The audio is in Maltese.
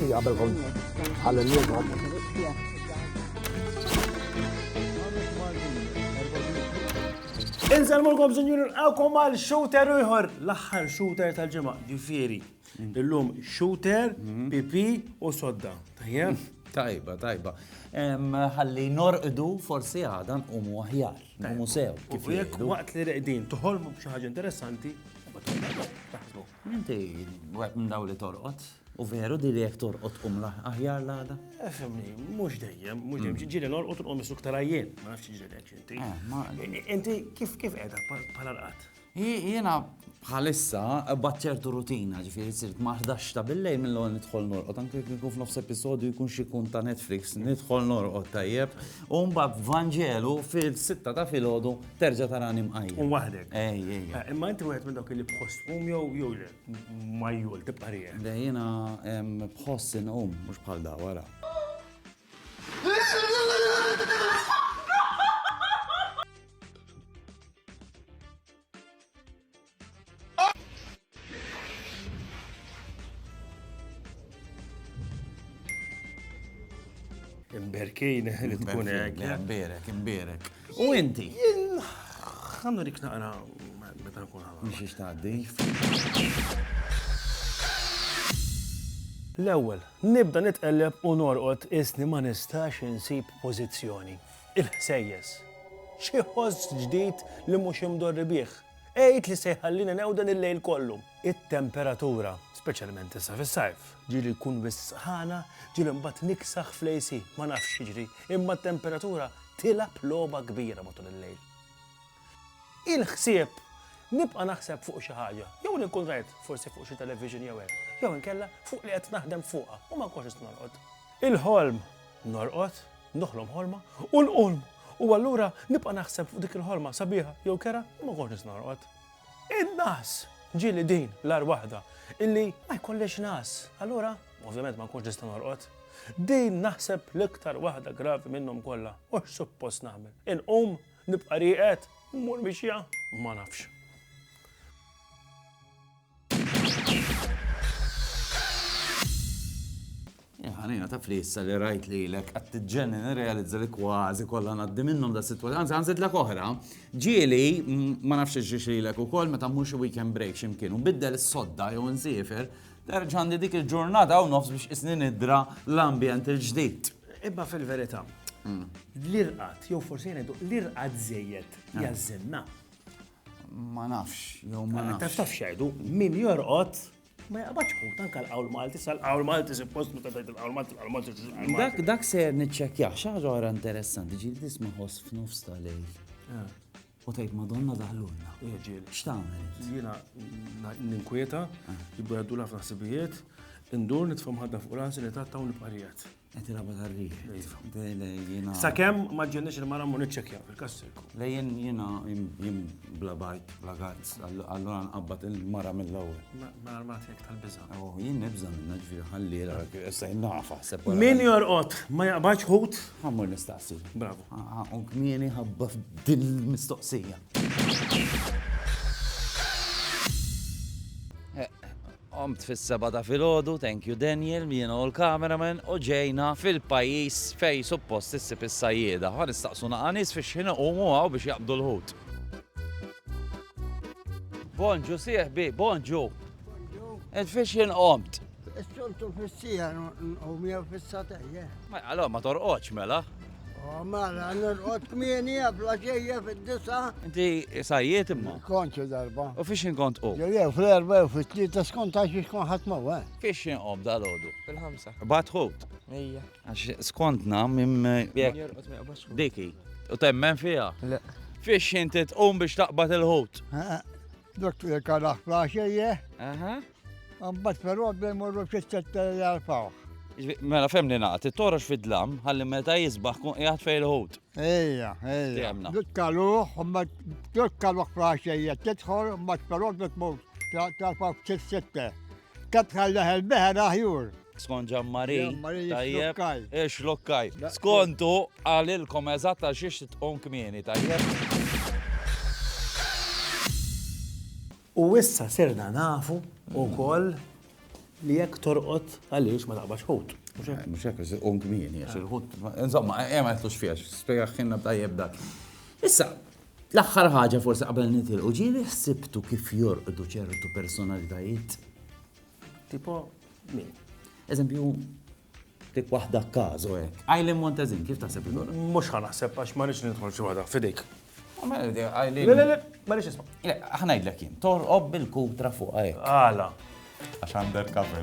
Qabel kont ħalli Inselmulkom sinjuri nqawkom għal shooter ieħor l-aħħar shooter tal-ġimgħa, ġifieri Illum shooter, pipi u sodda. Tajjeb? Tajba, tajba. Ħalli norqdu forsi għadan u mu aħjar. Mu sew. Kif jek waqt li reqdin toħolmu b'xi ħaġa interessanti, Inti waqt minn daw li torqod. U veru di li jek torqod um aħjar l-għada? Efemni, eh, mux dejjem, mux dejjem. Mm. Ġiri norqod u um suktarajjen, ma nafx ġiri inti. Eh, inti kif kif edha pala rqat? Jiena bħalissa qbadt ċertu rutina, ġifieri sirt ma' ħdax ta' billejl mill-ewwel nidħol norqod, anke jekk ikun f'nofs episodju jkun xi jkun ta' Netflix, nidħol norqod tajjeb, u mbagħad Vanġelu fil-sitta ta' filgħodu terġa' tarani mqajjem. U waħdek. Ej, ej. Imma inti wieħed minn dawk li b'ħoss tqum jew jew le? Majjul tibqa' rieqek. Le jiena b'ħoss inqum, mhux bħal dawn, ara. Imberkin, li tkun hekk. Imberek, imberek. U inti? Għandu dik naqra meta nkun għamil. Mhix ixtaqdi. L-ewwel, Nibda nitqelleb u norqod qisni ma nistax insib pożizzjoni. Il-ħsejjes. Xi ħoss ġdid li mhux imdorri bih. Għid li se jħallini newden il-lejl kollu. It-temperatura, speċjalment issa fis-sajf. Ġieli tkun wisqana, ġieli mbagħad niksaħ fl-AC. Ma nafx x'jiġri, imma t-temperatura tilgħab logħba kbira matul il-lejl. il-ħsieb nibqa' naħseb fuq xi ħaġa, jew li nkun rajt forsi fuq xi television jew hekk, jew inkella fuq li qed naħdem fuqha u ma nkunx lest norqod. Il-ħolm, norqod, noħlom ħolma, u nqum, u allura nibqa' naħseb fuq dik il-ħolma sabiħa jew kerha u ma nkunx lest norqod. In-nagħas, ġieli din l-agħar waħda, illi ma jkollix nagħas, allura ovvjament ma nkunx nista' norqod. Din naħseb l-iktar waħda gravi minnhom kollha, u x'suppost nagħmel? Inqum? Nibqa' rieqed? Mmur mixja? Ma nafx. Ħanina ta' flissa li rajt li l-ek għattiġenni nirrealizza li kważi kollha ngħaddi minnhom da' situazzjoni. Anzi, għanżid l oħra, ġieli ma nafx ġiex li l-ek ukoll meta mhux weekend break ximkien u biddel is-sodda jew nsifer, terġandi dik il-ġurnata u nofs biex isni nidra l-ambjent il-ġdid. Imma fil-verità, l-irqad, jew forsi ngħidu l-irqad żejjed eh. jażżinna. Ma nafx, jew ma eh, nafx. Taf xejdu, min jorqod ma jaqbadx hu tanka l-qawl Malti, sal-qawl Malti suppost meta tgħid il-qawl Malti, l-qawl Malti. Dak dak se niċċekkjah xi ħaġa interessanti ġieli tisma' ħoss f'nofs tal-lejl. Eh. U tgħid Madonna daħlulna. Irġiel. X'tagħmel int? Jiena ninkwieta, jibdu jgħaddu ħafna ħsibijiet, indur nitfa' mħadda fuq rasi li tatta u nibqarijiet. Qed iraba tarriħ. Iva. Sakemm ma ġġenniex il-mara mu niċċekkja fil-kassirku. Lejjen jiena jim bla bajt, bla gazz, allura nqabbad il-mara mill-ewwel. Ma armat jekk tal-biża. Oh, jien nibża minna ġifieri ħalli issa nafa. Min jorqod ma jaqbadx ħut? Ħammur nistaqsi. Bravo. Għaqu kmieni ħabba f'dil mistoqsija. Omt fis-seba ta' filgħodu, thank you Daniel, jiena u l-cameraman, u ġejna fil-pajjiż fej suppost issib is-sajjieda. Ħa nistaqsu naqa' nies fiex ħin iqumu hawn biex jaqbdu l-ħut. Bonġu sieħbi, bonġu. Ed fiex jien qomt. Is-soltu fis-sija u mija fis-satejja. Ma għalhom ma torqodx mela. Oh, mela, norqod kmieni għabla ġejja fid-disa. Inti sajjiet imma? Konċu darba. U fiex inkont u? Jew fl-erba u fit-tlieta skont għax biex kon ħadd mawa. Eh? Fiex inqom dal-ħodu? Fil-ħamsa. Bat ħut? Ejja. Għax skontna minn diki. U temmen fija? Le. Fiex inti tqum biex taqbad il-ħut? Eh, eh. Dottor il-karaħ flaxejje. Aha. Mbagħad però għabda jmorru fis-setta jgħalfaw. Mela fem li naqt, it-torox fid-dlam, ħalli meta jisbaħ kun qiegħed fejn il-ħut. Ejja, ejja. Dukkaluh, ma dukkaluh flaxejje, tidħol, ma però dukkaluh tal-faw fis-setta. Kat bħal leħel beħer aħjur. Skont ġammari. Tajjeb. Ix lokkaj. Skontu għalilkom eżatta xiex tqum kmieni, tajjeb. U issa sirna nafu u koll li jekk torqot għaliex ma taqbax ħut. Mux jekk, un kmini, għax il-ħut. Insomma, ema eh, eh, jtlux fiex, spiegaxħinna b'tajjeb dak. Issa, L-aħħar ħaġa forsi qabel nitilqu ġieli ħsibtu kif jorqdu ċertu personalitajiet? Tipo min? Eżempju, dik waħda kazo hekk. Għajlin Montezin, kif taħseb li dora? Mhux ħanaħseb għax ma nix nidħol xi waħda fidejk. Le, le, le, ma nix isma'. Le, ħnajdlek jien, torqob bil-kutra fuq hekk. Għala. Għax undercover.